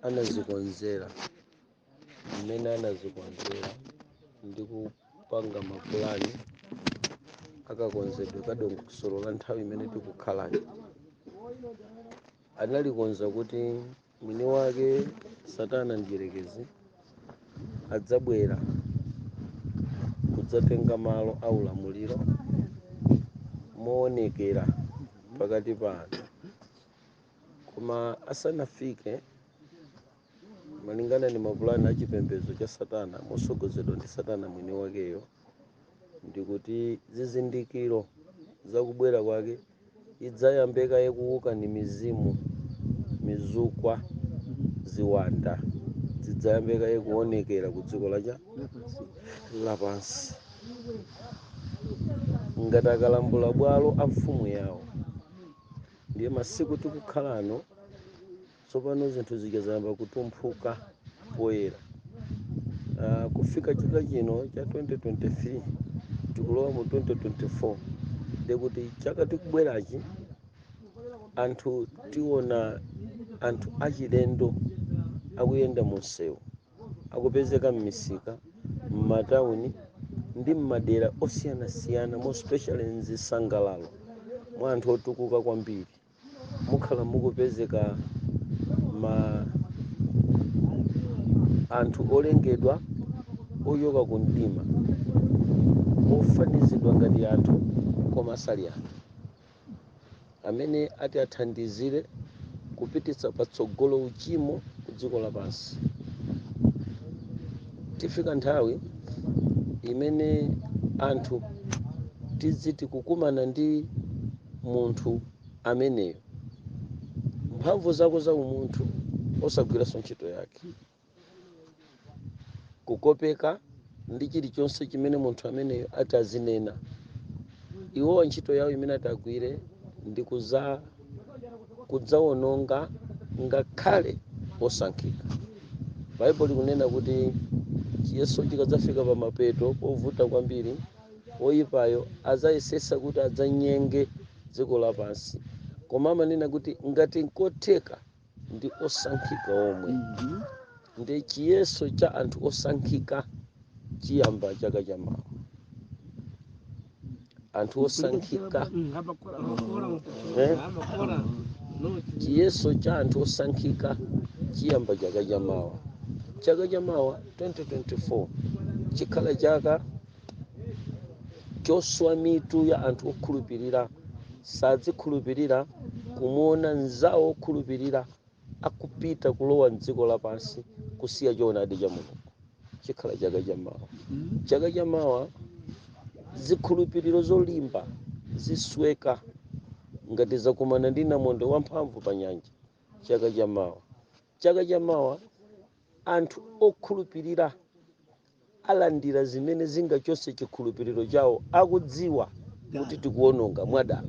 anazikonzera mmene anazikonzera ndi kupanga mapulani akakonzedwe kadongosolo la nthawi imene tikukhalayi analikonza kuti mwini wake satana mdyerekezi adzabwera kudzatenga malo a ulamuliro moonekera pakati pa anthu koma asanafike malingana ndi mapulani a chipembedzo cha satana motsogozedwa ndi satana mwini wakeyo ndikuti zizindikiro zakubwera kwake idzayambe kaye kuwuka ndi mizimu mizukwa ziwanda zidzayambe kaye kuonekera ku dziko lathu lapansi ngati akalambula bwalo a mfumu yawo ndiye masiku tikukhala ano tsopano zinthu zija zayamba kutumphuka poyera kufika chaka chino cha 2023 tikulowa mu 2024 ndiye kuti chaka tikubwerachi anthu tiona anthu achilendo akuyenda mu msewu akupezeka m'misika m'matauni ndi m'madera osiyanasiyana more especially mzisangalalo mwa anthu otukuka kwambiri mukhala mukupezeka ma anthu olengedwa ochoka ku mdima ofanizidwa ngati anthu koma sali anthu amene ati athandizire kupititsa patsogolo uchimo ku dziko lapansi tifika nthawi imene anthu tiziti kukumana ndi munthu ameneyo mphamvu zako za umunthu osagwiranso ntchito yake kukopeka ndi chilichonse chimene munthu ameneyo ati azinena iwowa ntchito yawo imene ati agwire ndi kudzawononga ngakhale osankhika baibulo likunena kuti chiyeso chikadzafika pa mapeto povuta kwambiri oyipayo adzayesetsa kuti adzanyenge dziko lapansi koma amanena kuti ngati nkotheka ndi osankhika omwe ndi chiyeso cha anthu osankhika chiyamba chaka cha mawa anthu osankhika chiyeso cha anthu osankhika chiyamba chaka cha mawa chaka cha mawa 2024 chikhala chaka choswa mitu ya anthu okhulupirira sadzikhulupirira kumuona mnzawo okhulupirira akupita kulowa mdziko lapansi kusiya choonadi cha mulungu chikhala chaka cha mawa chaka cha mawa zikhulupiriro zolimba zisweka ngati zakumana ndi namondwe wamphamvu pa nyanja chaka cha mawa chaka cha mawa anthu okhulupirira alandira zimene zingachotse chikhulupiriro chawo akudziwa kuti tikuwononga mwadala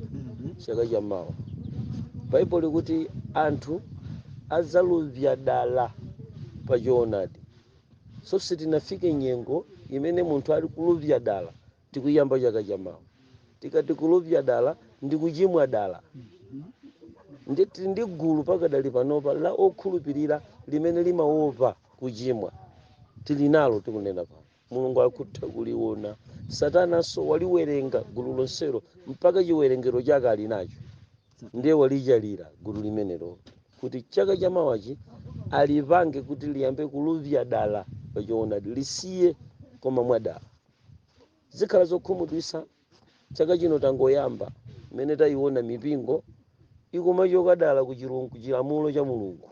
chaka cha mawa baibulo likuti anthu adzaluvya dala pa choonadi so sitinafike nyengo imene munthu ali kuluvya dala Tikuyamba chaka cha mawa. Tikati kuluvya dala ndi kuchimwa dala. Ndiye tili ndi gulu pakadali panopa la okhulupirira limene limaopa kuchimwa. Tili nalo tikunena pano. Mulungu akutha kuliona. Satananso waliwerenga gulu lonselo mpaka chiwerengero chake ali nacho. Ndiye walichalira gulu limenelo kuti chaka cha mawachi alipange kuti liyambe kuluvya dala pa choonadi, lisiye koma mwadala. zikhala zokhumudwitsa chaka chino tangoyamba mmene tayiona mipingo ikumachoka dala ku chilu- ku chilamulo cha mulungu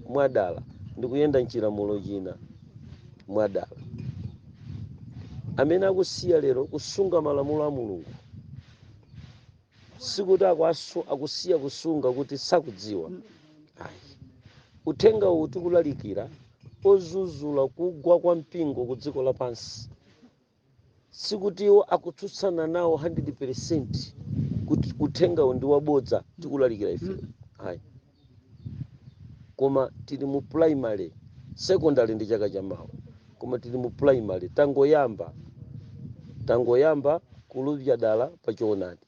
mwadala ndikuyenda mchilamulo china mwadala amene akusiya lero kusunga malamulo a mulungu sikuti akusiya kusunga kuti sakudziwa ayi uthenga uwu tikulalikira ozuzula kugwa kwa mpingo ku dziko lapansi sikuti iwo akutsutsana nawo 100% kuti uthenga uwu ndi wabodza tikulalikira ife ayi koma tili mu primary secondary ndi chaka chamawa koma tili mu primary tangoyamba tangoyamba kuluvya dala pa choonadi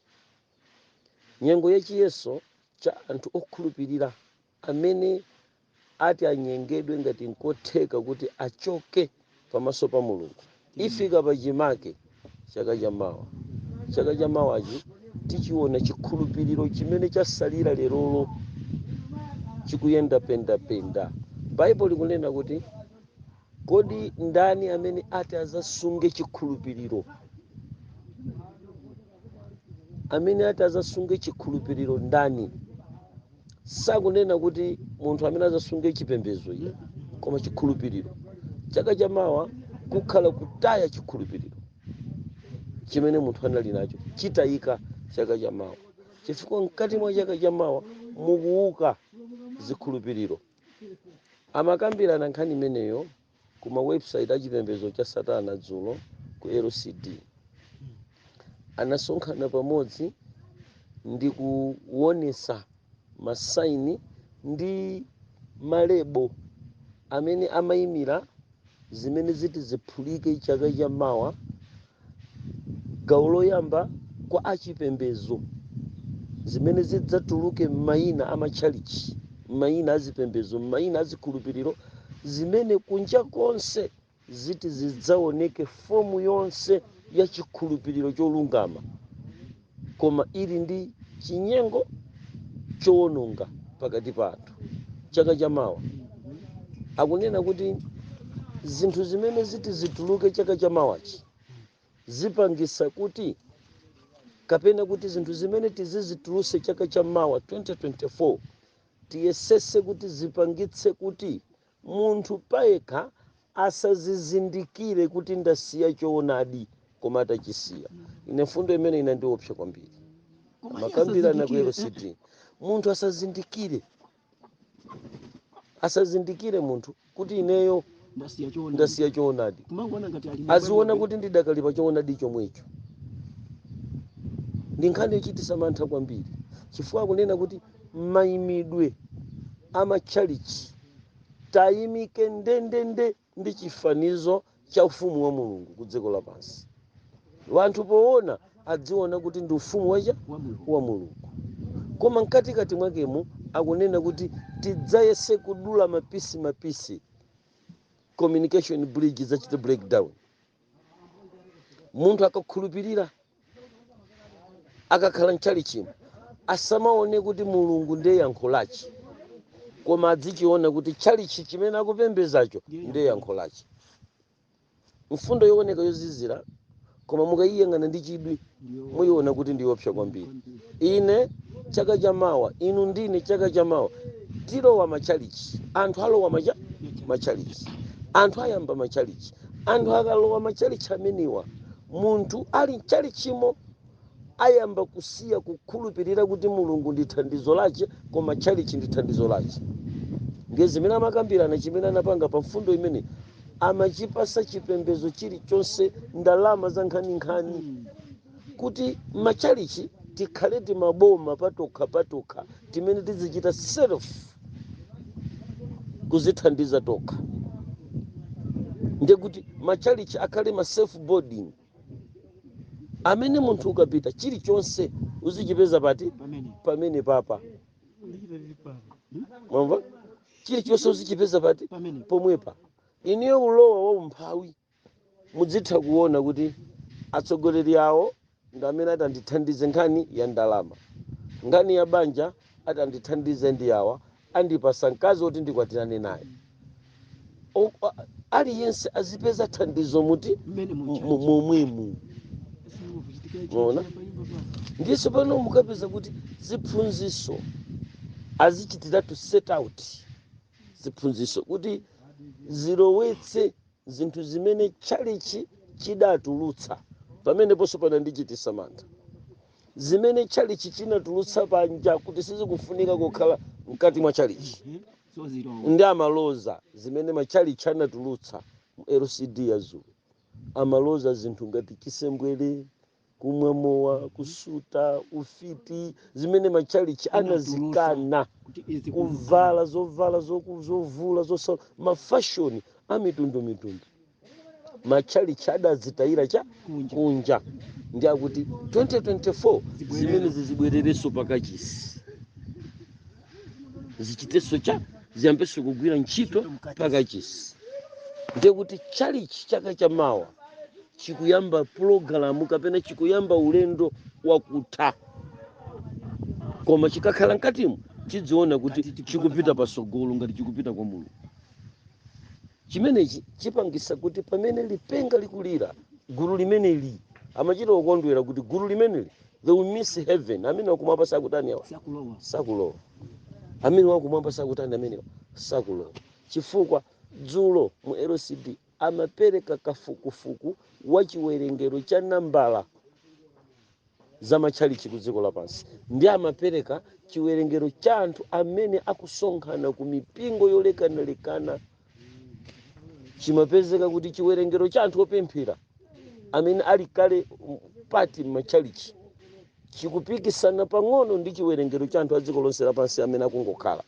nyengo ya chiyeso cha anthu okhulupirira amene ati anyengedwe ngati nkotheka kuti achoke pamaso pa mulungu ifika pachimake chaka chamawa chaka chamawachi tichiona chikhulupiriro chimene chasalira lerolo chikuyenda pendapenda baibulo likunena kuti kodi ndani amene ati azasunge chikhulupiriro amene ati azasunge chikhulupiriro ndani sakunena kuti munthu amene azasunge chipembedzo iyayi koma chikhulupiriro chaka chamawa kukhala kutaya chikhulupiriro chimene munthu anali nacho chitayika chaka chamawa chifukwa mkati mwa chaka chamawa mukuwuka zikhulupiriro amakambirana nkhani imeneyo ku ma website a chipembedzo cha satana dzulo ku lcd anasonkhana pamodzi ndi kuonesa masaini ndi malebo amene amayimira zimene ziti ziphulike chaka cha mawa Gawo loyamba, Kwa achipembedzo, zimene zidzatuluke m'mayina a matchalitchi, m'mayina a zipembedzo, m'mayina a zikhulupiriro, zimene kunja konse ziti zidzaoneke fomu yonse ya chikhulupiriro cholungama. koma ili ndi chinyengo chowononga pakati pa anthu chaka chamawa akunena kuti zinthu zimene ziti zituluke chaka chamawachi zipangisa kuti kapena kuti zinthu zimene tizizituluse chaka chamawa 2024 tiyesese kuti zipangitse kuti Munthu payekha asazizindikire kuti ndasiya choonadi koma atachisiya. Ine mfundo imene inandiopsa kwambiri. Amakambirana ku LCD. Munthu asazindikire. Asazindikire munthu kuti ineyo ndasiya choonadi. Aziona kuti ndidakali pa choonadi chomwecho. Ndi nkhani yochititsa mantha kwambiri. Chifukwa akunena kuti mayimidwe a matchalitchi tayimike ndendende ndi chifanizo cha ufumu wa mulungu ku dziko lapansi wanthu poona adziona kuti ndi ufumu wacha wa mulungu koma mkatikati mwakemo akunena kuti tidzayese kudula mapisi mapisi communication bridge zichite breakdown munthu akakhulupirira akakhala mchalichimo asamaone kuti mulungu ndiye yankho lachi koma adzichiona kuti chalichi chimene akupembezacho ndiye yankho lachi mfundo yooneka yozizira koma mukayiyang'ana ndi chidwi muyiona kuti ndiyopsa kwambiri ine chaka chamawa inu ndine chaka chamawa tilowa machalichi anthu alowa macha machalichi anthu ayamba machalichi anthu akalowa machalichi amenewa munthu ali mchalichimo ayamba kusiya kukhulupirira kuti mulungu ndi thandizo lache koma chalichi ndi thandizo lache ndiye zimene amakambirana chimene anapanga pa mfundo imene amachipasa chipembedzo chilichonse ndalama za nkhaninkhani kuti machalichi tikhale timaboma patokha patokha timene tizichita self kuzithandiza tokha ndekuti machalichi akhale ma self boarding amene munthu ukapita chilichonse uzichipeza pati pamene papa mwamva chilichonse uzichipeza pati pomwepa inuyo ulowa wa umphawi mudzitha kuona kuti atsogoleri awo ndi amene atandithandize nkhani ya ndalama nkhani ya banja atandithandize ndi awa andipasa mkazi woti ndikwatirane naye O- a- aliyense azipeza thandizo muti mmene mu- mucha mu- momwemu Mwaona? ndiso pano mukapeza kuti ziphunziso azichitiratu set out ziphunziso kuti zilowetse zinthu zimene tchalichi chidatulutsa pameneponso panandichitisa mantha zimene tchalichi chinatulutsa panja kuti sizikufunika kukhala mkati mwa tchalichi ndi amaloza zimene matchalitchi anatulutsa mu lcd ya dzulo amaloza zinthu ngati chisembwere kumwa mowa kusuta ufiti zimene matchalitchi anazikana kuvala zovala zoku- zovula zosa mafashoni amitundumitundu matchalitchi adazitayira cha kunja ndiye kuti 2024 zimene zizibwererenso pakachisi zichitenso chani ziyambenso kugwira ntchito pakachisi ndiye kuti tchalitchi chaka cha mawa chikuyamba pulogalamu kapena chikuyamba ulendo wakutha koma chikakhala mkatimo chidziona kuti chikupita pasogolo ngati chikupita kwa mulungu chimenechi chipangisa kuti pamene lipenga likulira gulu limeneli amachita kukondwera kuti gulu limeneli they will miss heaven amenewa kumwamba sakutani awa sakulowa sakulowa amenewa kumwamba sakutani amenewa sakulowa chifukwa dzulo mu lcd amapereka kafukufuku wa chiwerengero cha nambala za matchalitchi ku dziko lapansi ndi amapereka chiwerengero cha anthu amene akusonkhana ku mipingo yolekanalekana chimapezeka kuti chiwerengero cha anthu opemphera amene ali kale mm, pati m'matchalitchi chikupikisana pang'ono ndi chiwerengero cha anthu a dziko lonse lapansi amene akungokhala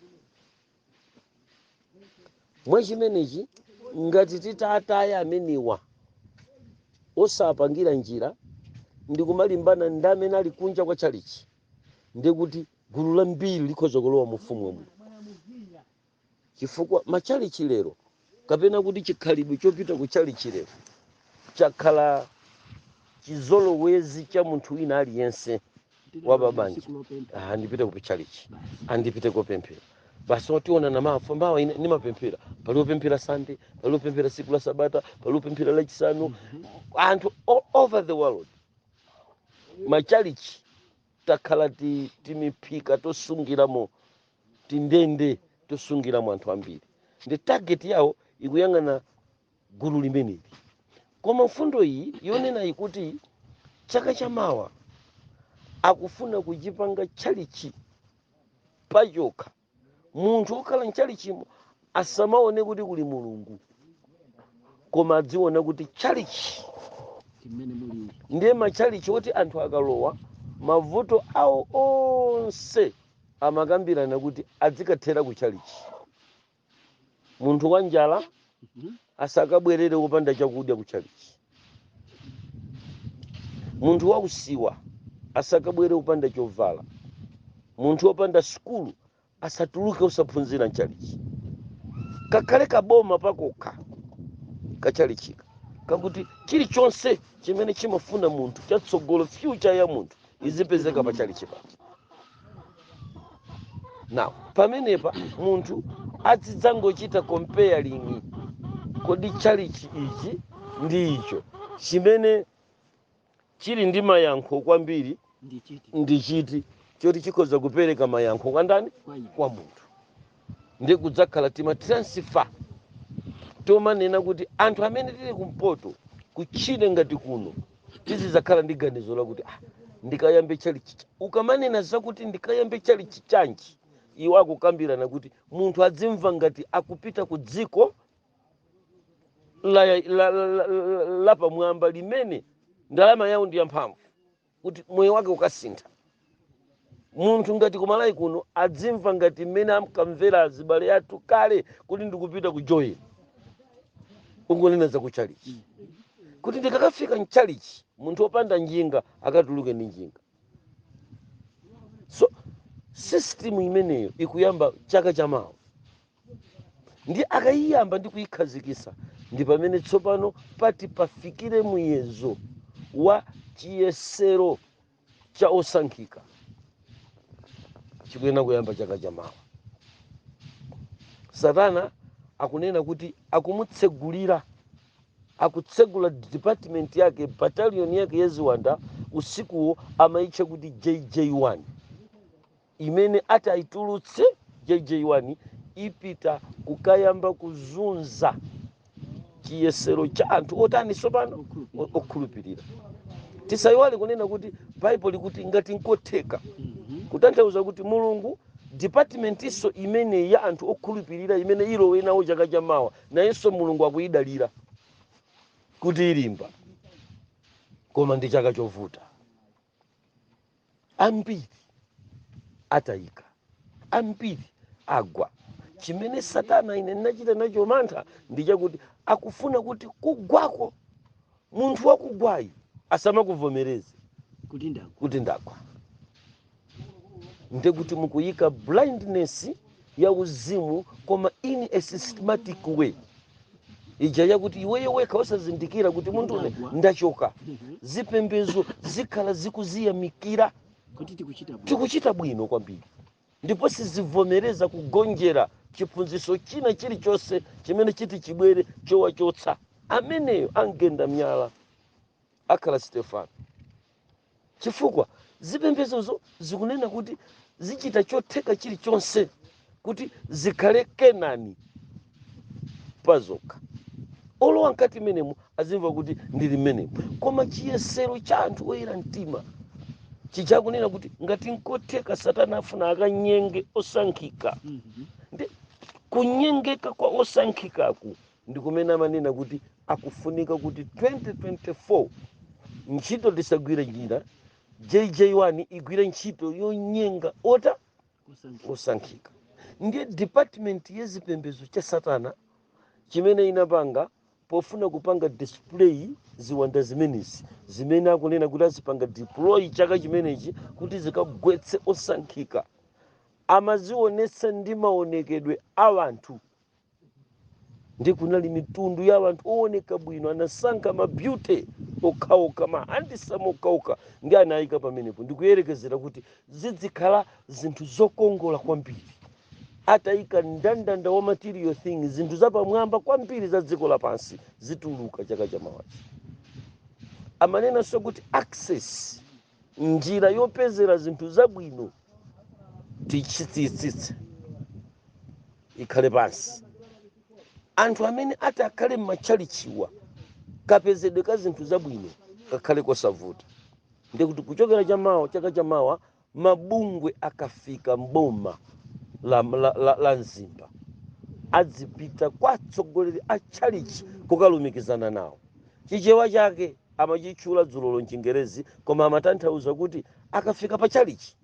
mwa chimenechi ngati titataya amenewa osapangira njira ndi kumalimbana ndi amene ali kunja kwa tchalichi ndiye kuti gulu lambiri likhoza kulowa mu ufumu wa mulungu chifukwa matchalichi lero kapena kuti chikhalidwe chopita ku tchalitchi lero chakhala chizolowezi cha munthu wina aliyense wa babanja ah, ndipite ku tchalitchi ah, ndipite kopemphera basi otiona amafuna awone ndimapemphera pali opemphera sande pali opemphera siku la sabata pali opemphera lachisanu anthu all over the world machalichi takhala ti- timiphika tosungiramo tindende tosungiramo anthu ambiri ndi target yawo ikuyang'ana gulu limeneli koma mfundo iyi yonena kuti chaka chamawa akufuna kuchipanga tchalichi pachokha munthu okhala mchalichimo asamaone kuti kuli mulungu koma adziona kuti tchalichi ndiye matchalichi oti anthu akalowa mavuto awo onse amakambirana kuti adzikathera ku tchalichi munthu wa njala asakabwerere wopanda chakudya ku tchalichi munthu wausiwa asakabwere wopanda chovala munthu wopanda sukulu asatuluke osaphunzira mchalichi kakhale kaboma pakokha kachalichika kakuti chilichonse chimene chimafuna munthu cha tsogolo fyucha ya munthu izipezeka pa chalichi pake now pamenepa munthu azidzangochita comparing kodi chalichi ichi ndi icho chimene chili ndi mayankho kwambiri ndi chiti choti chikhoza kupereka mayankho kwa ndani kwa munthu ndi kudzakhala tima transfer tomanena kuti anthu amene tili kumpoto kutchire ngati kuno tizidzakhala ndi ganizo lakuti ndikayambe chalichi ukamanena zakuti ndikayambe chalichi chanji iwo akukambirana kuti munthu adzimva ngati akupita ku dziko la, la pamwamba limene ndalama yawo ndi yamphamvu kuti moyo wake ukasintha munthu ngati ku Malawi kuno adzimva ngati mmene amkamvera azibale athu kale kuti ndikupita ku Joni akunena za kuchalichi kuti ndikakafika mchalichi munthu opanda njinga akatuluke ndi njinga so system imeneyo ikuyamba chaka chamawa ndi akayiyamba ndi kuyikhazikitsa ndi pamene tsopano pati pafikire muyezo wa chiyesero cha osankhika chikuyenera kuyamba chaka chamawa satana akunena kuti akumutsegulira akutsegula department yake battalion yake ya ziwanda usikuwo amayitcha kuti jj1 imene atayitulutse jj1 ipita kukayamba kuzunza chiyesero cha anthu otani tsopano okhulupirira tisayiwale kunena kuti baibulo likuti ngati nkotheka kutanthauza kuti mulungu dipatimentinso imene ya anthu okhulupirira imene ilowe nawo chaka cha mawa nayenso mulungu akuyidalira kuti ilimba koma ndi chaka chovuta ambiri atayika ambiri agwa chimene satana ine nachita nacho mantha ndi chakuti akufuna kuti kugwako munthu wakugwayi asamakuvomereze kuti ndagwa kuti ndagwa ndikuti mukuyika blindness ya uzimu koma in a systematic way ija yakuti iweyo wekha osazindikira kuti munthune ndachoka zipembezo zikhala zikuziyamikira kuti tikuchita bwino tikuchita bwino kwambiri ndipo sizivomereza kugonjera chiphunzitso china chilichonse chimene chiti chibwere chowachotsa ameneyo angenda myala akhala Stefano. Chifukwa zipembedzozo zikunena kuti zichita chotheka chilichonse kuti zikhale Kenani pazokha. Olowa mkati menemo azimva kuti ndili mmenemo. Koma chiyesero cha anthu oyera mtima chija akunena kuti ngati nkotheka Satana afuna akanyenge osankhika. Nde kunyengeka kwa osankhikaku ndi kumene amanena kuti akufunika kuti 2024 ntchito tisagwire njira jj1 igwire ntchito yonyenga ota osankhika ndiye department ya zipembedzo cha satana chimene inapanga pofuna kupanga display ziwanda zimenezi zimene akunena kuti azipanga deploy chaka chimenechi kuti zikagwetse osankhika amazionetsa ndi maonekedwe a wanthu ndi kunali mitundu ya wanthu owoneka bwino anasankha mabyute okhaokha mahandisamu okhaokha ndi anayika pamenepo ndikuyerekezera kuti zidzikhala zinthu zokongola kwambiri atayika ndandanda wa material thing zinthu zapamwamba kwambiri za dziko lapansi zituluka chaka chamawachi amanenanso kuti access njira yopezera zinthu zabwino tichitsitsitse ikhale pansi anthu amene ati akhale m'matchalichiwa kapezedwe ka zinthu zabwino kakhale kosavuta ndikuti kuchokera chamawa chaka chamawa mabungwe akafika mboma la, la, la, la mzimba adzipita kwa atsogoleri a tchalichi kukalumikizana nawo chichewa chake amachitchula dzulolo mchingerezi koma amatanthauza kuti akafika pa chalichi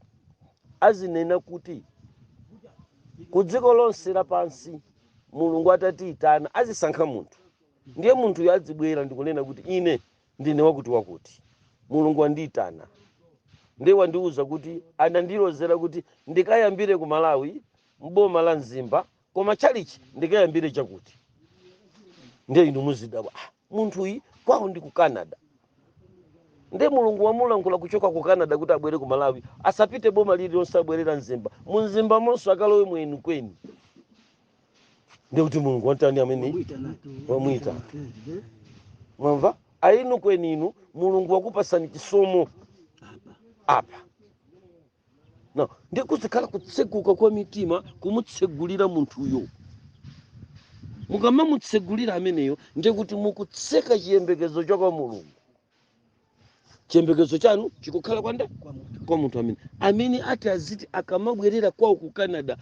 azinena kuti ku dziko lonse lapansi mulungu atatiyitana azisankha munthu ndiye munthuyo adzibwera ndikunena kuti ine ndine wakuti wakuti mulungu andiyitana ndiye wandiwuza kuti anandilozera kuti ndikayambire ku malawi mboma la mzimba koma chalichi ndikayambire chakuti ndiye inu muzidabwa "Ah, munthuyu kwawo ndi ku canada nde mulungu wamulankhula kuchoka ku canada kuti abwere ku malawi asapite boma lililonse abwere ku mzimba mu mzimbamonso akalowe mwenukweni nde kuti mulungu watani ameneyi wamuitana mwamva a enukweni inu mulungu wakupasani chisomo apa no ndiye kuzikhala kutseguka kwa mitima kumutsegulira munthuyo mukamamutsegulira ameneyo ndiye kuti mukutseka chiyembekezo cha kwa mulungu chiyembekezo chanu chikukhala kwa ndani kwa munthu amene amene ati aziti akamabwerera kwawo ku canada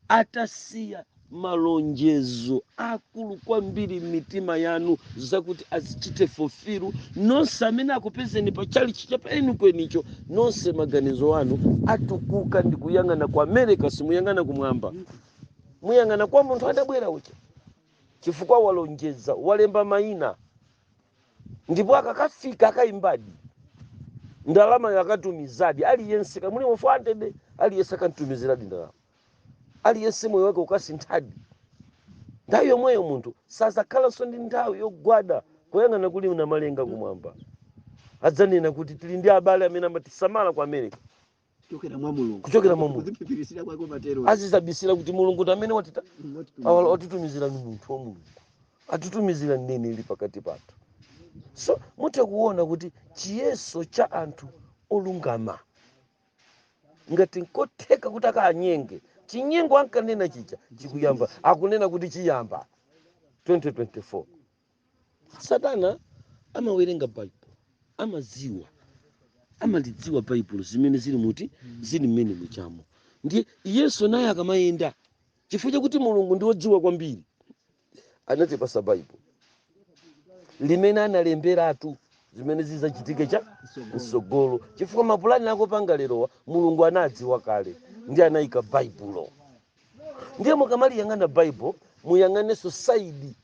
atasiya malonjezo akulu kwambiri m'mitima yanu zakuti azichite fulfill nonse amene akupezeni pa chalichi cha pa enukwenicho nonse maganizo anu atukuka ndi kuyang'ana ku america simuyang'ana kumwamba muyang'ana kwa munthu adabwera uja chifukwa walonjeza walemba mayina ndipo akakafika akayimbadi ndalama akatumizadi aliyense kaya muli mu 400 aliyense akamtumiziradi ndalama aliyense moyo wake ukasinthadi nthawi yomweyo munthu sazakhalanso ndi nthawi yogwada kuyang'ana kuli namalenga kumwamba adzanena kuti tili ndi abale amene amatisamala ku america kuchokera mwa mulungu Kuchokera mwa Mulungu. kuziphiphiritsira kwake umatero azizabisira kuti mulungu ndi amene watitani watitumizira ni munthu wa mulungu atitumizira mneneri pakati pathu so mutha kuona kuti chiyeso cha anthu olungama ngati nkotheka kuti akanyenge chinyengo ankanena chija chikuyamba akunena kuti chiyamba 2024 satana amawerenga baibulo amadziwa amalidziwa baibulo zimene zili muti zili m'menemujamo ndiye iyenso naye akamayenda chifukwa chakuti mulungu ndi wodziwa kwambiri anatipasa baibulo limene analemberatu zimene zizachitike cha msogolo chifukwa mapulani akopanga lerowa mulungu anadziwa kale nde anayika baibulo ndiye mukamaliyang'ana baibulo muyang'anenso side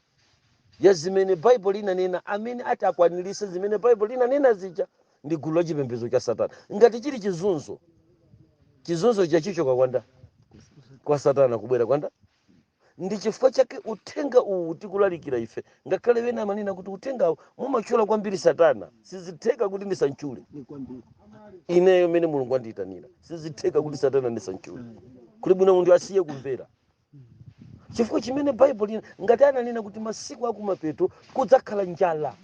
ya zimene baibulo linanena amene ati akwanirise zimene baibulo linanena zija ndi gulu la chipembedzo cha satana ngati chili chizunzo chizunzo chake chichoka kwa ndani kwa satana kubwera kwa nda ndi chifukwa chake uthenga uwu tikulalikira ife ngakhale wena amanena kuti uthengawu mumatchula kwambiri satana sizitheka kuti ndisamtchule ineyo mene mulungu andiyitanira sizitheka kuti satana ndisamtchule kuli bwino munthu asiye kumvera chifukwa chimene baibulo linanena ngati ananena kuti masiku akumapeto kudzakhala njala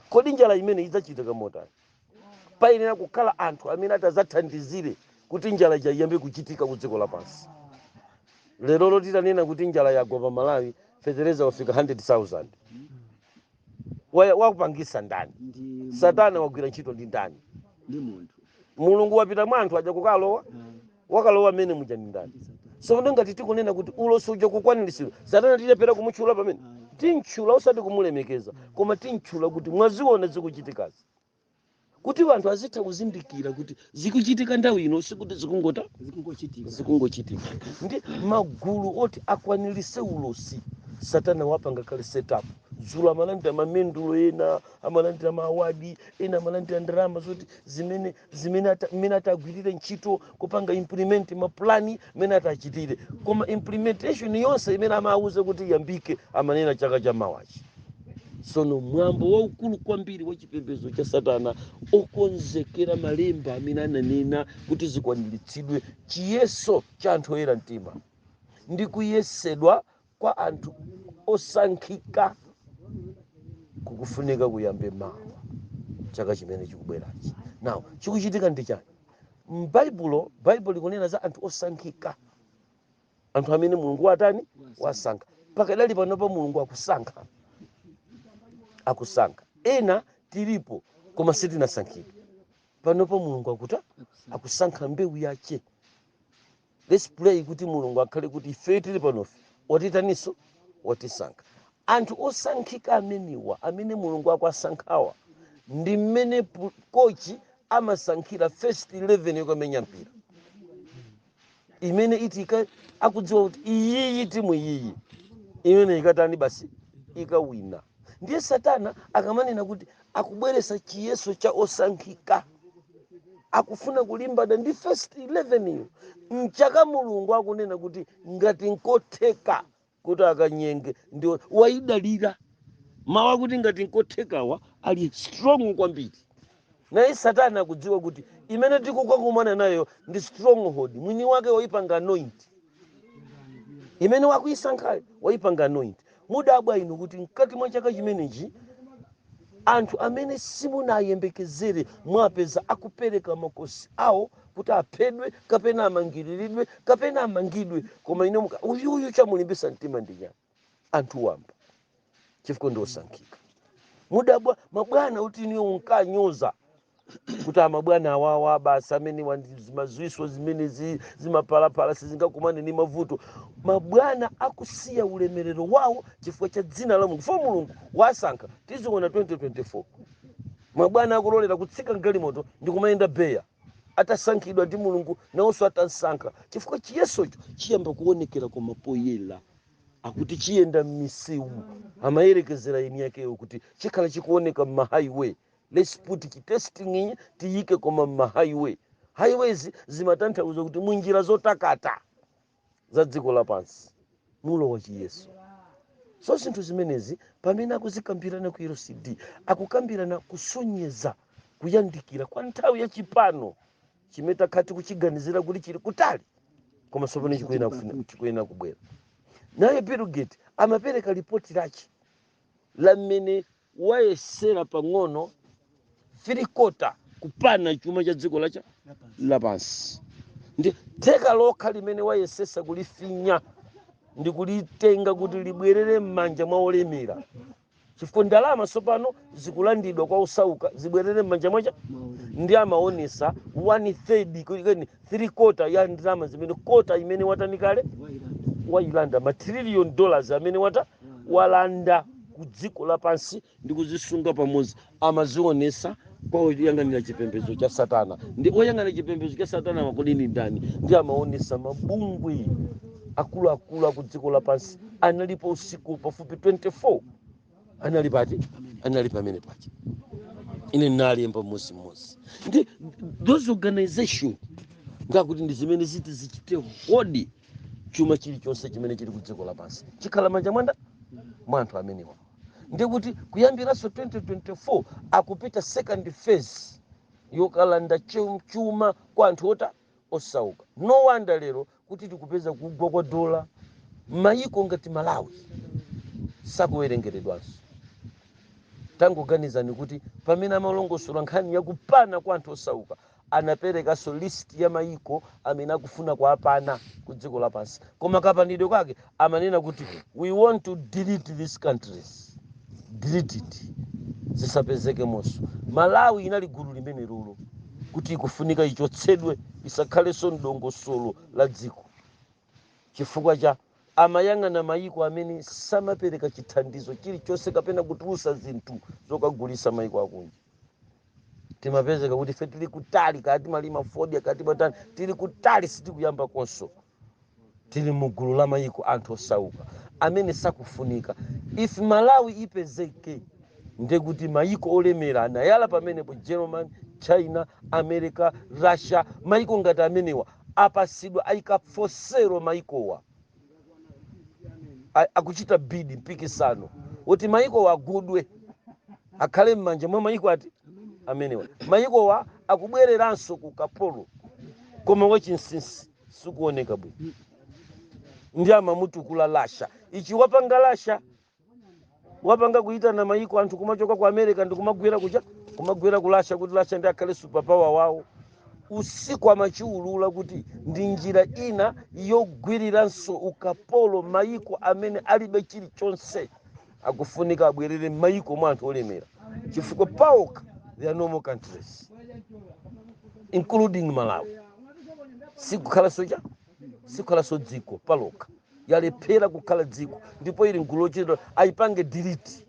kodi njala imeneyi idzachitika motani payenera kukhala anthu amene atadzathandizire kuti njala ija iyambe kuchitika ku dziko lapansi lero loti tanena kuti njala yagwa pa malawi fetereza wafika 100000 Wa- wakupangisa ndani ndi satana wagwira ntchito ndi ndani ndi munthu mulungu wapita mwa anthu aja kukalowa wakalowa mmene muja nndani sono ngati tikunena kuti ulosi uja kukwaniritsidwa satana tilephera kumutchula pamene timtchula osati kumulemekeza koma timtchula kuti mwaziona zikuchitikazi kuti vanthu azitha kuzindikira kuti zikuchitika nthawi ino sikuti zikungota zikungochitika zikungochitika ndi magulu oti akwaniritse ulosi satana wapanga kale setup dzulo amalandira mamendulo ena amalandira maawadi ena amalandira ndalama zoti zimene zimene ata- mmene atagwirire ntchito kupanga implement mapulani mmene atachitire koma implementation yonse imene amawuze kuti iyambike amanena chaka cha mawachi sono mwambo waukulu kwambiri wa chipembedzo cha satana okonzekera malemba amene ananena kuti zikwaniritsidwe chiyeso cha anthu oyera mtima ndi kuyesedwa kwa anthu osankhika kukufunika kuyambe mawa chaka chimene chikubwerachi now chikuchitika ndi chani m'baibulo baibulo likunena za anthu osankhika anthu amene mulungu watani wasankha pakadali panopa mulungu akusankha akusankha ena tilipo koma sitinasankhidwe panopa mulungu akuta akusankha mbewu yache Let's pray kuti Mulungu akhale kuti ifeyo tili panofe watitaninso watisankha. Anthu osankhika amenewa amene Mulungu akwasankhawa ndi mmene pu- kochi amasankhira first 11 yokamenya mpira imene itika akudziwa kuti iyiyi timu iyiyi imene ikatani basi ikawina ndiye satana akamanena kuti akubweretsa chiyeso cha osankhika akufuna kulimbana ndi first 11 yo mchaka mulungu akunena kuti ngati nkotheka kuti akanyenge ndi waidalira mawu akuti ngati nkothekawa ali strong kwambiri naye satana akudziwa kuti imene tikukakumana nayo ndi stronghold mwini wake waipanga anoint imene wakuisankhayo waipanga anoint mudabwa inu kuti mkati mwa chaka chimenechi anthu amene simunayembekezere mwapeza akupereka makosi awo kuti aphedwe kapena amangiriridwe kapena amangidwe koma ine muka uyuyu chamulimbitsa mtima ndi chani anthu wamba chifukwa ndi osankhika mudabwa mabwana kuti iniyo unkanyoza kuti amabwana awawa basi amene wandi- zimazwiswa zimene zi- zimapalapala sizingakumane ndi mavuto mabwana akusiya ulemerero wawo chifukwa cha dzina la mulungu fo mulungu wasankha tiziona 2024 mabwana akulolera kutsika mgalimoto ndi kumayenda beya atasankhidwa ndi mulungu nawonso atasankha chifukwa chiyesocho chiyamba kuonekera kwa poyera akuti chiyenda m'misewu amayerekezera eni yakeyo kuti chikhala chikuoneka m'mahighway lets put chitesting ichi tiyike koma m'mahighway highways zimatanthauza kuti munjira zotakata za dziko lapansi mulowa chiyeso so zinthu zimenezi pamene akuzikambirana ku lcd akukambirana kusonyeza kuyandikira kwa nthawi ya chipano chimene takhala tikuchiganizira kuti chili kutali koma tsopano chikuyenera kubwera naye bill gate amapereka lipoti lache la mmene wayesera pang'ono three quarter kupana chuma cha dziko lacha lapansi ndi theka lokha limene wayesesa kulifinya ndi kulitenga kuti libwerere m'manja mwa olemera chifukwa ndalama tsopano zikulandidwa kwa osauka zibwerere m'manja mwacha ndi amaonesa one third three quarter ya ndalama zimene kota imene watani kale wailanda ma trillion dollars amene wata walanda ku dziko lapansi ndi kuzisunga pamodzi amazionesa kwa oyang'anira chipembedzo cha satana ndi oyang'anira chipembedzo cha satana makodi ndani ndi amaonesa mabungwe akuluakulu aku dziko lapansi analipo usiku pafupi 24 anali pati anali pamene paja ine nalemba mmozi mmozi ndi those organization ndakuti ndi zimene ziti zichite hold chuma chilichonse chimene chili ku dziko lapansi chikhala manja mwanda mwa anthu amenewa ndi kuti kuyambiranso 2024 akupita second phase yokalanda chu- chuma kwa anthu ota osauka no wonder lero kuti tikupeza kugwa kwa dola mayiko ngati malawi sakuwerengeredwanso tangoganizani kuti pamene amalongosola nkhani yakupana kwa anthu osauka anaperekanso list ya mayiko amene akufuna kuwapana ku dziko lapansi koma kapanidwe kwake amanena kuti we want to delete these countries delete it zisapezekemonso malawi inali gulu limenelolo kuti ikufunika ichotsedwe isakhalenso mdongosolo la dziko Chifukwa cha. amayang'ana mayiko amene samapereka chithandizo chilichonse kapena kutulusa zinthu zokagulisa mayiko akunja. Timapezeka kuti ife tili kutali kaya timalima fodya kaya timatani tili kutali sitikuyambakonso. Tili mu gulu la mayiko anthu osauka amene sakufunika. If Malawi ipezeke ndekuti mayiko olemera anayala pamenepo German, China, America, Russia mayiko ngati amenewa apasidwa ayika pa for sale mayikowa a- akuchita bid mpikisano woti mayikowa agudwe akhale m'manja mwa mayiko ati amenewa mayikowa akubwereranso ku kapolo koma wachinsinsi sikuoneka bwino ndiye amamutukula Russia ichi wapanga Russia wapanga kuitana mayiko anthu kumachoka ku america ndi kumagwera kucha kumagwera ku russia kuti russia nde akhale superpower wawo osikumachiulula kuti ndi njira ina yogwiriranso ukapolo mayiko amene alibe chilichonse akufunika abwerere mayiko mwa anthu olemera chifukwa paokha they are no more countries including malawi sikukhalanso cha sikhalanso dziko palokha yalephera kukhala dziko ndipo ili mgulu lochitidwa ayipange delete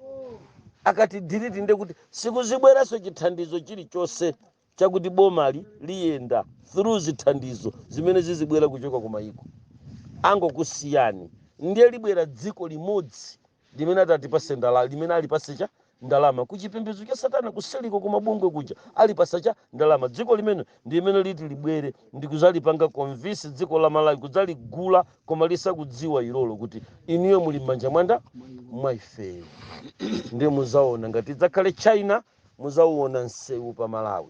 akati delete nde kuti sikuzibweranso chithandizo chilichonse chakuti bomali liyenda through zithandizo zimene zizibwera kuchoka ku mayiko angokusiyani ndiye libwera dziko limodzi limene atatipatse ndala limene alipase cha ndalama ku chipembedzo cha satana kuseliko ku mabungwe kuja alipasa cha ndalama dziko limene ndi limene liti libwere ndi kuzalipanga convince dziko la malawi kudzaligula koma lisakudziwa ilolo kuti inuyo muli m'manja mwanda mwa ifeyo ndiye muzaona ngati idzakhale china muzauona msewu pa malawi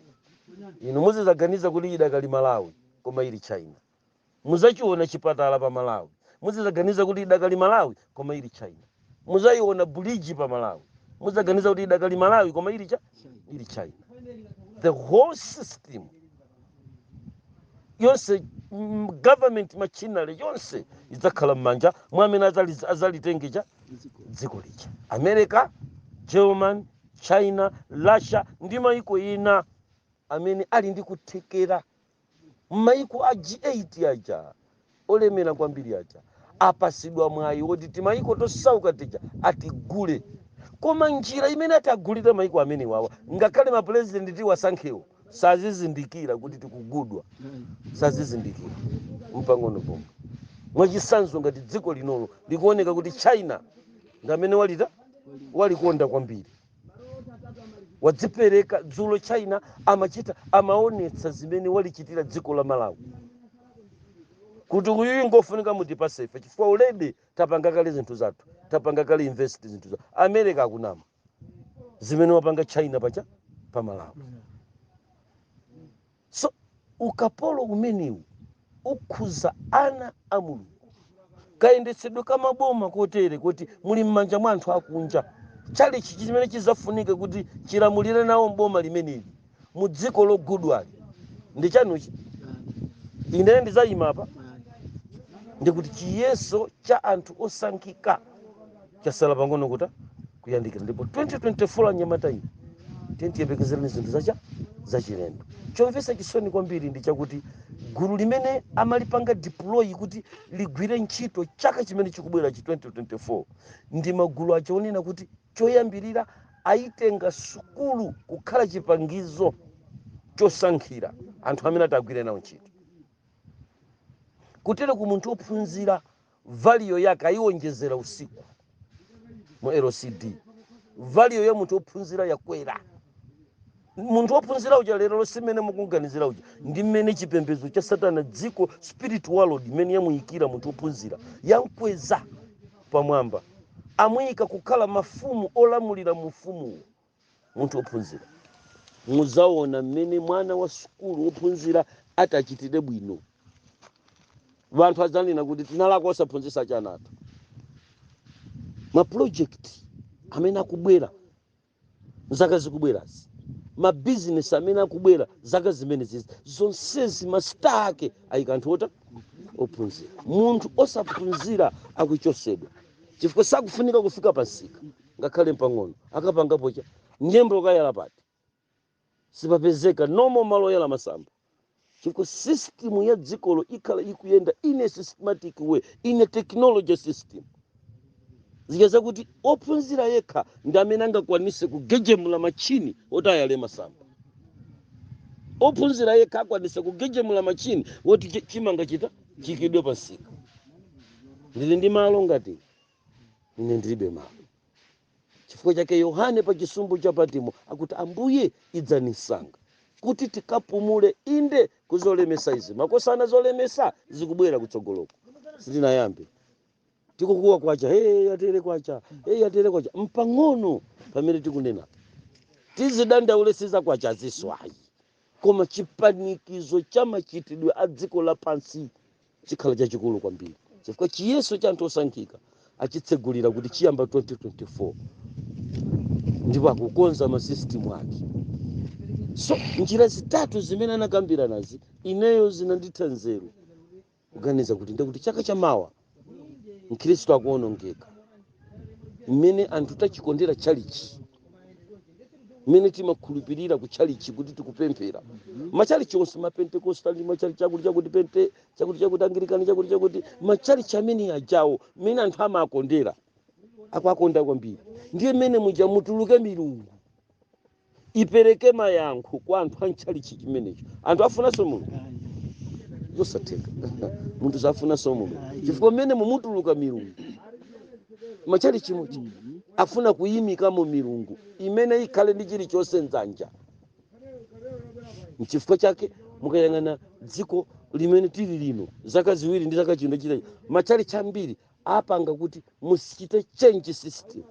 inu muzizaganiza kuti idakali malawi koma ili china Muzachiona chipatala pa Malawi muzizaganiza kuti idakali Malawi koma ili China. Muzaiona buliji pa Malawi muzaganiza kuti idakali Malawi koma ili cha ili China. The whole system yonse mm, government machinery yonse idzakhala m'manja mwa amene azali- azalitenge cha dziko lija america german china russia ndi maiko ina amene ali ndi kuthekera Maiko a G8 aja, olemera kwambiri aja, apatsidwa mwayi woti timaiko tosauka tija atigule. Koma njira imene ati agulire maiko amenewawa, ngakhale mapulezidenti tiwasankhewo sazizindikira kuti tikugudwa. Sazizindikira mpang'ono pomwe. Mwachitsanzo, ngati dziko linolo likuoneka kuti China ndi amene walita walikonda kwambiri. wadzipereka dzulo china amachita amaonetsa zimene walichitira dziko la malawi kuti uyuyu ngofunika mutipase ife chifukwa already tapanga kale zinthu zathu tapanga kale invest zinthu zathu america akunama zimene wapanga china pacha pa malawi so ukapolo umenewu ukhuza ana a mulungu kayendetsedwe ka maboma kotere kuti muli m'manja mwa anthu akunja chalichi chimene chizafunike kuti chilamulire nawo m'boma limeneli mu dziko logudwali ndi chanuchi ine ndizayima apa ndikuti chiyeso cha anthu osankhika chasala pang'ono kuti kuyandikira ndipo 2024 anyamata iyi tiyembekezereni zinthu zacha zachilendo chomvetsa chisoni kwambiri ndi chakuti gulu limene amalipanga deploy kuti ligwire ntchito chaka chimene chikubwera chi 2024 ndi magulu acha onena kuti choyambirira ayitenga sukulu kukhala chipangizo chosankhira anthu amene atagwire nawo ntchito kutere ku munthu ophunzira Value yake ayiwonjezera usiku mu LCD. Value ya munthu ophunzira yakwera. Munthu ophunzira uja lerolo si mmene mukumganizira uja ndi mmene chipembedzo cha Satana dziko spirit world imene yamuyikira munthu ophunzira yamkweza pamwamba amuyika kukhala mafumu olamulira mu ufumuwo. munthu wophunzira muzaona mmene mwana wa sukulu wophunzira atachitire bwino wanthu adzanena kuti tinalakwa osaphunzitsa chana athu mapulojekiti amene akubwera zaka zikubwerazi mabizinesi amene akubwera zaka zimenezi zonsezi masita ake ayika anthu ota ophunzira munthu osaphunzira akuchosedwa chifukwa sakufunika kufika pamsika ngakhale mpang'ono akapangapo cha nyemba ukayala pati sipapezeka no more malo oyala masamba chifukwa system ya dzikolo ikhala ikuyenda in a systematic way in a technology system zija zakuti ophunzira yekha ndi amene angakwanise kugejemula machini oti ayale masamba ophunzira yekha akwanise kugejemula machini woti chi- chimanga chita chiikidwe pamsika ndili ndi malo ngati ine ndilibe malo chifukwa chake yohane pa chisumbu cha patimo akuti ambuye idzani msanga kuti tikapumule inde kuzolemesa izi makosana zolemesa zikubwera kutsogoloko sitinayambe tikukuwa kwacha hey, yatere kwacha hey, yatere kwacha mpang'ono pamene tikunena tizidandaule si za kwachazi ayi koma chipanikizo cha machitidwe a dziko lapansi chikhala chachikulu kwambiri chifukwa chiyeso cha anthu osankhika achitsegulira kuti chiyamba 2024 ndipo akukonza masystem ake so njira zitatu zimene anakambiranazi ineyo zinanditha nzeru kuganiza kuti ndekuti chaka cha mawa mkhristu akuonongeka mmene anthu tachikondera chalichi mmene timakhulupirira ku chalichi kuti tikupemphera machalichi onse mapentekosta ndi machalichi akuti chakuti pente chakuti chakuti angirikani chakuti chakuti machalichi amene ajawo mmene anthu amakondera akwakonda kwambiri ndiye mmene muja mutuluke milungu ipereke mayankho kwa anthu a mchalichi chimenecho anthu afunanso mulungu zosatheka munthu sazafunanso mulungu chifukwa mmene mumutuluka milungu mmachalichi muja afuna kuyimikamo milungu imene ikhale ndi chilichonse mdzanja nchifukwa chake mukayang'ana dziko limene tili lino zaka ziwiri ndi zaka chino chitha machalichi ambiri apanga kuti mumati chiyani change system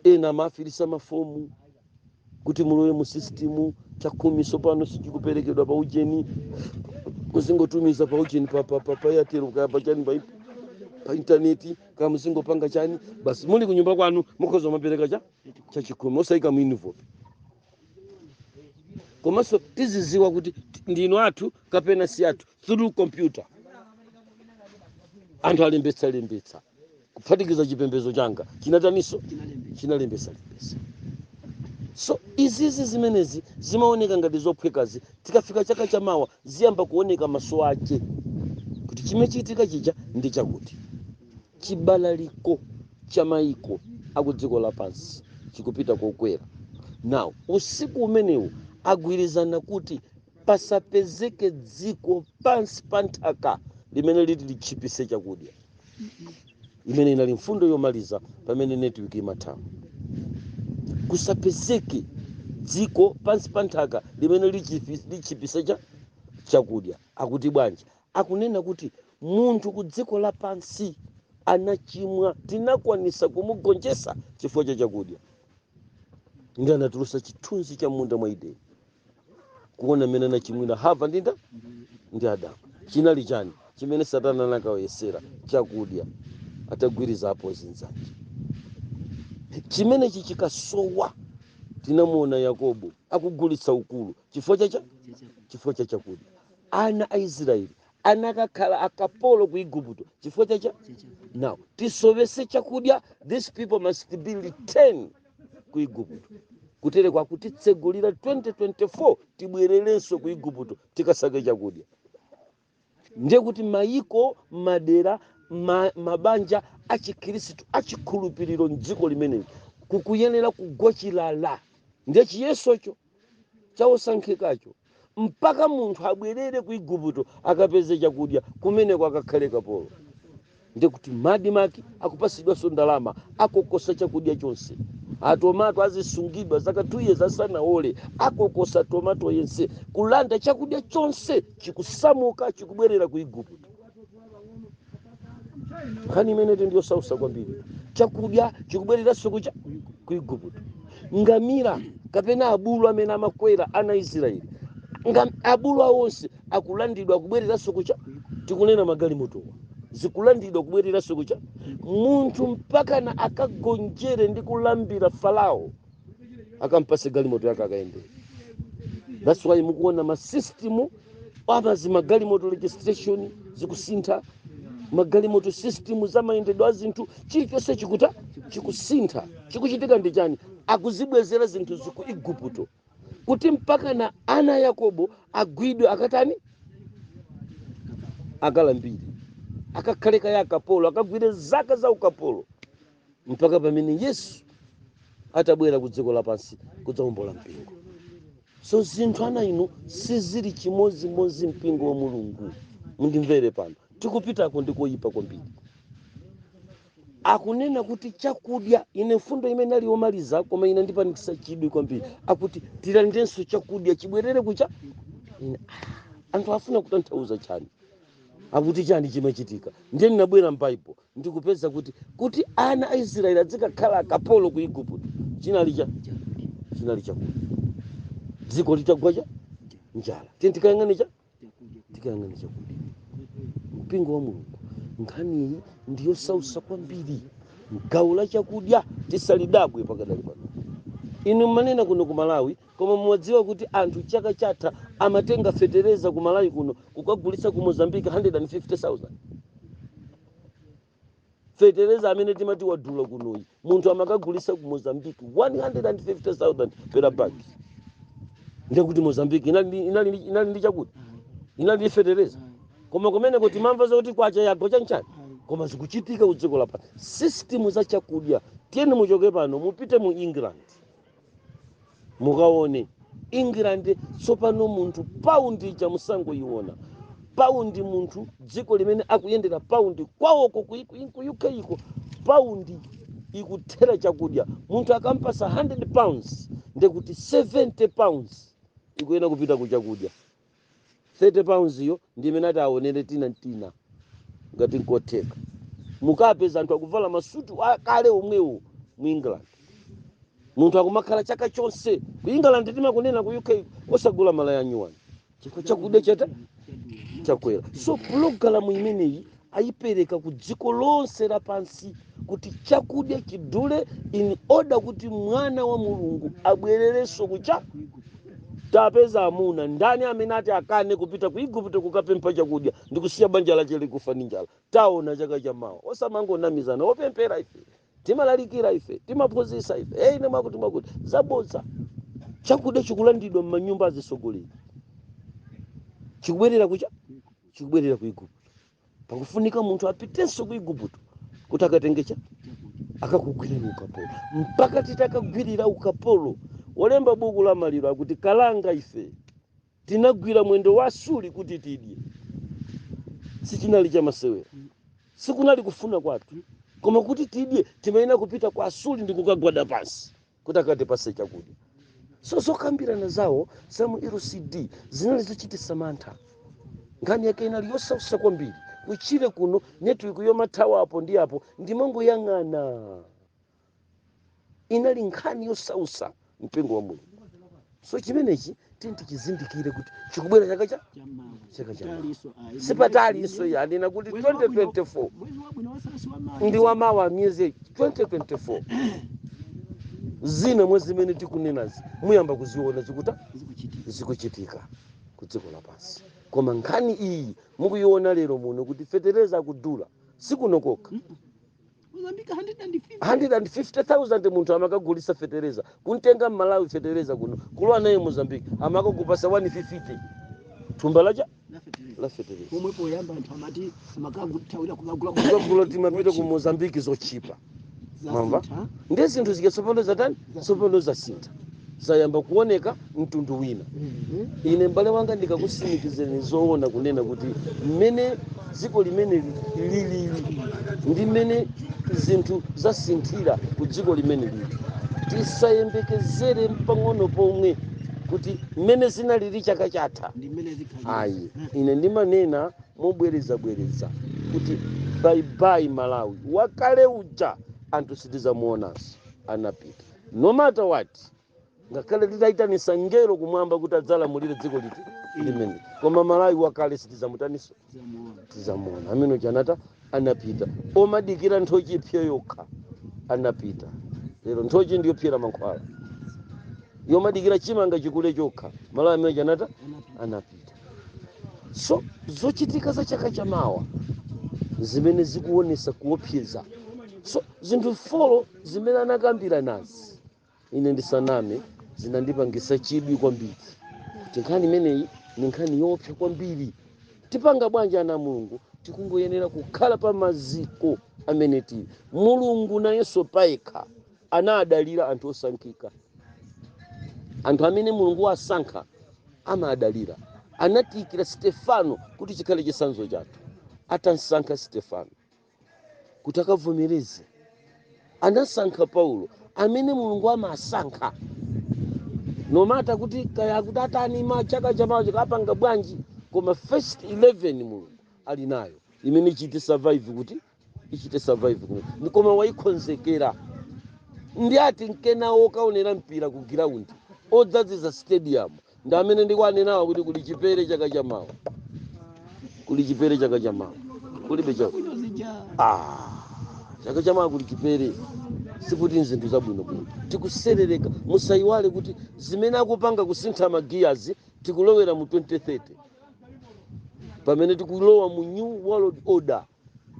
ena amafilisa mafomu kuti mulowe mu system chakhumi tsopano sichikuperekedwa pa ujeni muzingotumiza pa ujeni pa, pa, pa, pa yatero kaya pa chani pa, pa intaneti kaya muzingopanga chani basi muli kunyumba kwanu mukhoza kumapereka cha chakhumi osayika mu envelopu komanso tiziziwa kuti ndinu athu kapena si athu through computer anthu alembetsa lembetsa kuphatikiza chipembedzo changa chinataniso chinalembetsa lembetsa so izizi zimenezi zimaoneka ngati zophwekazi tikafika chaka cha mawa ziyamba kuoneka maso ache kuti chimachitika chija ndi chakuti chibalaliko cha maiko akudziko lapansi chikupita kokwera now usiku umenewu agwirizana kuti pasapezeke dziko pansi pa nthaka limene liti litchipise chakudya imene inali mfundo yomaliza pamene network imathawa kusapezeke dziko pansi pa nthaka limene litchipise chakudya akuti bwanji akunena kuti munthu ku dziko lapansi anachimwa tinakwanisa kumugonjesa chifukwa cha chakudya ndi anatulusa chithunzi cha mmunda mwa edeni kuona mmene anachimwira hava ndi nda ndi adamu chinali chani chimene satana anakawayesera chakudya atagwiritsa apo zinzanje chimenechi chikasowa tinamuona yakobo akugulitsa ukulu chifukwa cha cha chifukwa cha chakudya ana a israeli anakakhala akapolo ku igupto chifukwa cha cha now tisowese chakudya these people must be returned ku igupto kutereku akutitsegulira 2024 tibwererenso ku igupto tikasake chakudya ndiye kuti mayiko madera mabanja achikhristu achikhulupiriro mdziko limeneli kukuyenera kugwa chilala ndiye chiyesocho cha osankhikacho mpaka munthu abwerere ku igupto akapeze chakudya kumeneko akakhale kapolo ndikuti ma admarc akupasidwanso ndalama akokosa chakudya chonse atomato azisungidwa zaka 2 years asanaole akokosa tomato yense kulanda chakudya chonse chikusamuka chikubwerera ku igupto nkhani imeneyi ndi yosausa kwambiri chakudya chikubwereranso kucha ku igupto ngamira kapena abulu amene amakwera ana israeli abulu awonse akulandidwa kubwereranso kucha tikunena magalimotowa zikulandidwa kubwereranso kucha munthu mpakana akagonjere ndi kulambira farao akampase galimoto yake akayendere that's why mukuona masystem amazi magalimoto registration zikusintha magalimoto system za mayendedwe a zinthu chilichonse chikuta chikusintha chikuchitika ndi chani akuzibwezera zinthu ziku igupto kuti mpakana ana a yakobo agwidwe akatani akalambire akakhale kaya akapolo akagwire zaka za ukapolo mpaka pamene yesu atabwera ku dziko lapansi kudzawombola mpingo so zinthu ana inu sizili chimodzimodzi mpingo wa mulungu mundimvere pano tikupitako ndi koyipa kwambiri akunena kuti chakudya ine mfundo imene ali yomaliza koma inandipangisa chidwi kwambiri akuti tilandenso chakudya chibwerere kucha anthu afuna kutanthauza chani akuti chani chimachitika ndiye ndinabwera m'baibo ndi kupeza kuti kuti ana a israeli adzikakhala akapolo ku igupto chinali cha chinali chakudya dziko litagwa cha njala tiyeni tiyeni tikayang'ane chakudya mpingo wa mulungu nkhani iyi ndi yosausa kwambiri gawo la chakudya tisalidabwe pakadali pano inu mmanena kuno ku malawi Koma mumadziwa kuti anthu chaka chatha amatenga fetereza ku Malawi kuno kukagulitsa ku Mozambique 150,000? Fetereza amene timati wadula kunoyi munthu amakagulitsa ku Mozambique 150,000 per bag. Ndiye kuti Mozambique inali ndi chakudya inali ndi fetereza koma kumeneko timamva zakuti kwacha yagwa chanchani koma zikuchitika ku dziko lapansi. System za chakudya tiyeni muchoke pano mupite mu England mukaone england tsopano munthu paundi ija musangoyiona paundi munthu dziko limene akuyendera paundi kwawoko ku ku uk iko paundi ikuthera chakudya munthu akampasa 100 pounds ndekuti 70 pounds ikuyenera kupita ku chakudya 30 pounds iyo ndi imene ati aonere tina ntina ngati nkotheka mukapeza anthu akuvala masutu akale omwewo mu england munthu akumakhala chaka chonse ku england timakunena ku uk osagula malaya anyuwani chifukwa chakudya chata chakwera so pulogalamu imeneyi ayipereka ku dziko lonse lapansi kuti chakudya chidule in order kuti mwana wa mulungu abwererenso kucha tapeza amuna ndani amene ati akane kupita ku igupto kukapempha chakudya ndi kusiya banja lache likufa ndi njala taona chaka cha mawa osamangonamizana opemphera ife timalalikira ife timaphunzitsa ife hey, ine makuti makuti zabodza chakudya chikulandidwa m'manyumba azitsogoleri chikubwerera kucha chikubwerera ku igupto pakufunika munthu apitenso ku igupto kuti akatenge cha akakugwirira ukapolo mpaka titakagwirira ukapolo wolemba buku la maliro akuti kalanga ife tinagwira mwendo wa asuri kuti tidye sichinali cha masewera sikunali kufuna kwathu koma kuti tidye timayenera kupita kwa asuri ndi kukagwada pansi kuti akatipase chakudya so zokambirana zawo za mu lcd zinali zochititsa mantha nkhani yake inali yosautsa kwambiri kuchire kuno network yomathawa apo ndi apo ndimangoyang'ana inali nkhani yosautsa mpingo wa mulungu so chimenechi tini tichizindikire kuti chikubwera chaka cha chaka cha sipatalinso ayi anena kuti 2024 ndi wamawa miyezi 2024 zina mwa zimene tikunenazi muyamba kuziona zikuta zikuchitika ku dziko lapansi koma nkhani iyi mukuyiona lero muno kuti fetereza akudula sikuno kokha Mozambique 150,000 munthu amakagulisa fetereza kuntenga mmalawi fetereza kuno kulowa naye mozambique amakakupasa 150 thumba lacha la fetereza Pomwe poyamba anthu amati amakagulitawira kukagula timapita ku mozambique zochipa mwamva ndi zinthu zikasopano zatani sopano zasintha zayamba kuoneka mtundu wina ine m'bale wanga ndikakusimikizeni zoona kunena kuti mmene dziko limeneli lili ndi mmene zinthu zasinthira ku dziko limene lili tisayembekezere mpang'ono pomwe kuti mmene zinalili chaka chatha ndi mmene zikhalira ayi ine ndimanena mobwerezabwereza kuti baibai malawi wakale uja anthu sitizamuonanso anapita no matter what ngakhale titaitanisa ngelo kumwamba kuti adzalamulire dziko liti limene koma malawi wakale sitizamuonanso tizamuona amene chanata anapita omadikira nthochi ipse yokha anapita lero nthochi ndiyopsera mankhwala omadikira chimanga chikule chokha malawi ameneyo anatha anapita so zochitika za chaka chamawa zimene zikuonesa kuopsa so zinthu folo zimene anakambiranazi ine ndisaname zinandipangisa chidwi kwambiri kuti nkhani imeneyi ndi nkhani yoopsa kwambiri tipanga bwanji ana a mulungu tikungoyenera kukhala pa maziko amene tili mulungu nayenso payekha anadalira anthu osankhika anthu amene mulungu wasankha amadalira anatiyikira stefano kuti chikhale chitsanzo chathu atamsankha stefano kuti akavomereze anasankha paulo amene mulungu amasankha no matter kuti kaya akuti atani ma chaka cha chamawa chikapanga bwanji koma first 11 mulungu ali nayo imene ichite survive kuti ichite survive kuno Ndi koma wayikonzekera ndi a Timkena okaonera mpira ku ground odzadzitsa stadium ndi amene ndikuwanenawa kuti kuli chipere chaka cha mawa kuli chipere chaka cha mawa kulibe chaka ah, chaka cha mawa kuli chipere sikuti ndi zinthu zabwinobwino tikutsetsereka musayiwale kuti zimene akupanga kusintha magiyazi tikulowera mu 2030 pamene tikulowa mu new world order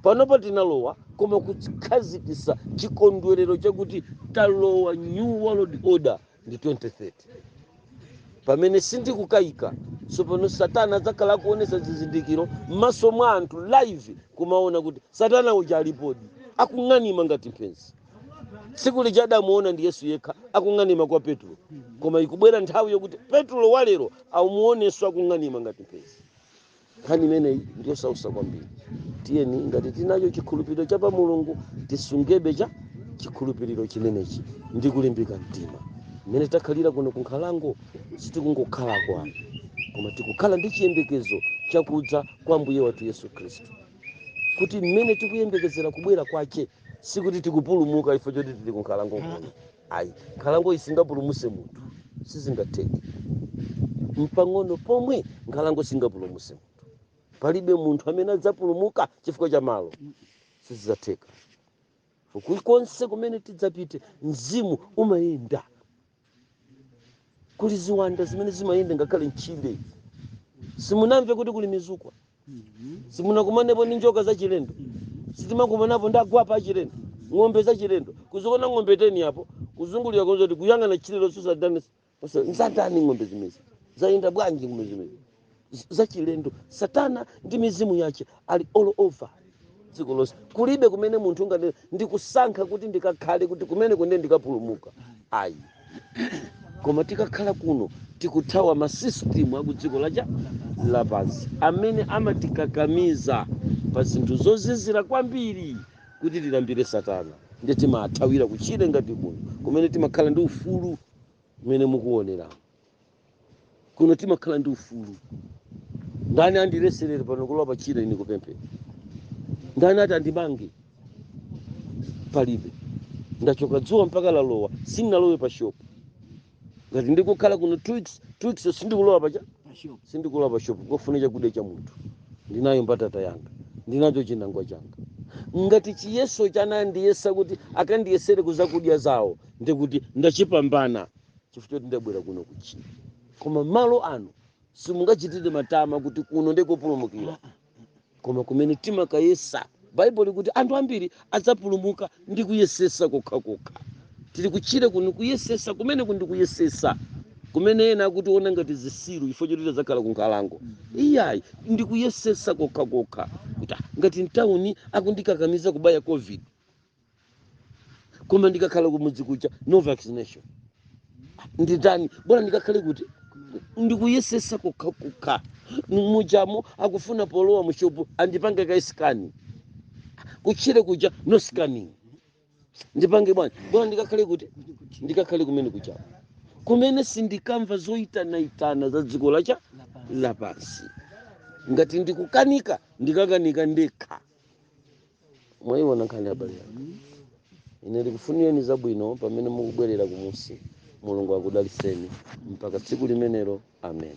panopa tinalowa koma kukhazikitsa chikondwerero chakuti talowa new world order ndi 2030 pamene sindikukayika tsopano satana adzakhala akuonetsa zizindikiro m'maso mwa anthu live kumaona kuti satana uja alipodi akung'anima ngati mphenzi tsiku lija adamuona ndi yesu yekha akung'anima kwa petulo koma ikubwera nthawi yokuti petulo walero amuonenso akung'anima ngati mphenzi nkhani imeneyi ndiyosausa kwambiri tiyeni ngati tinacho chikhulupiriro cha pa mulungu tisungebe chi chikhulupiriro chimenechi ndi kulimbika mtima mmene takhalira kuno kunkhalango sitikungokhala kwanu koma tikukhala ndi chiyembekezo chakudza kwa ambuye wathu yesu khristu kuti mmene tikuyembekezera kubwera kwache sikuti tikupulumuka ife choti tili kunkhalango kuno ayi nkhalangoyi singapulumuse munthu sizingatheke mpang'ono pomwe nkhalango singapulumuse munthu palibe munthu amene adzapulumuka chifukwa cha malo sizidzatheka kulikonse kumene tidzapite mzimu umayenda kuli ziwanda zimene zimayenda ngakhale mtchire simunamve kuti kuli mizukwa simunakumanepo ndi njoka zachilendo sitimakumanapo ndi agwape achilendo ng'ombe zachilendo kudziona ng'ombe teni apo kuzungulira konza kuti kuyang'ana tchire lonse satana nzatani ng'ombe zimezi zayenda bwanji ng'ombe zimezi zachilendo satana ndi mizimu yache ali all over dziko lonse kulibe kumene munthu ungati ndikusankha kuti ndikakhale kuti kumene kunde ndikapulumuka ayi koma tikakhala kuno tikuthawa masisitimu akudziko lacha lapansi amene amatikakamiza pa zinthu zozizira kwambiri kuti tilambire satana ndiye timathawira kuchire ngati kuno kumene timakhala ndi ufulu mmene mukuonera kuno timakhala ndi ufulu ndani andileserere pano kulowa pa chire ine kupemphera ndani ati andimange palibe ndachoka dzuwa mpaka lalowa sindinalowe pa shopu ngati ndikukhala kuno two weeks two weeks sindikulowa pa shopu sindikulowa pa shopu kufuna chakudya cha munthu ndinayo mbatata yanga ndinacho chinangwa changa ngati chiyeso chanandiyesa kuti akandiyesere kuzakudya zawo ndikuti ndachipambana chifukwa choti ndabwera kuno kuchire koma malo ano simungachitire matama kuti kuno ndikopulumukira koma kumene timakayesa baibulo likuti anthu ambiri adzapulumuka ndi kuyesesa kokhakokha tili kuchire kuno kuyesesa kumene kundi kuyesesa kumene ena akutiona ngati zisiru chifukwa choti tadzakhala ku nkhalango iyayi ndi kuyesesa kokhakokha kuti ngati mtawuni akundikakamiza kubaya covid koma ndikakhala kumudzi kuja no vaccination nditani bora ndikakhale kuti ndikuyesesa kokhakokha mujamo akufuna polowa mushopu andipange ka sikani kutchire kuja no scanning ndipange bwanji bora ndikakhale kuti ndikakhale kumene kuja kumene sindikamva zoyitanaitana za dziko lacha lapansi ngati ndikukanika ndikakanika ndekha mwayiona nkhani abale anga ine ndikufunireni zabwino pamene mukubwerera kumusi mulungu akudaliseni mpaka tsiku limenelo amen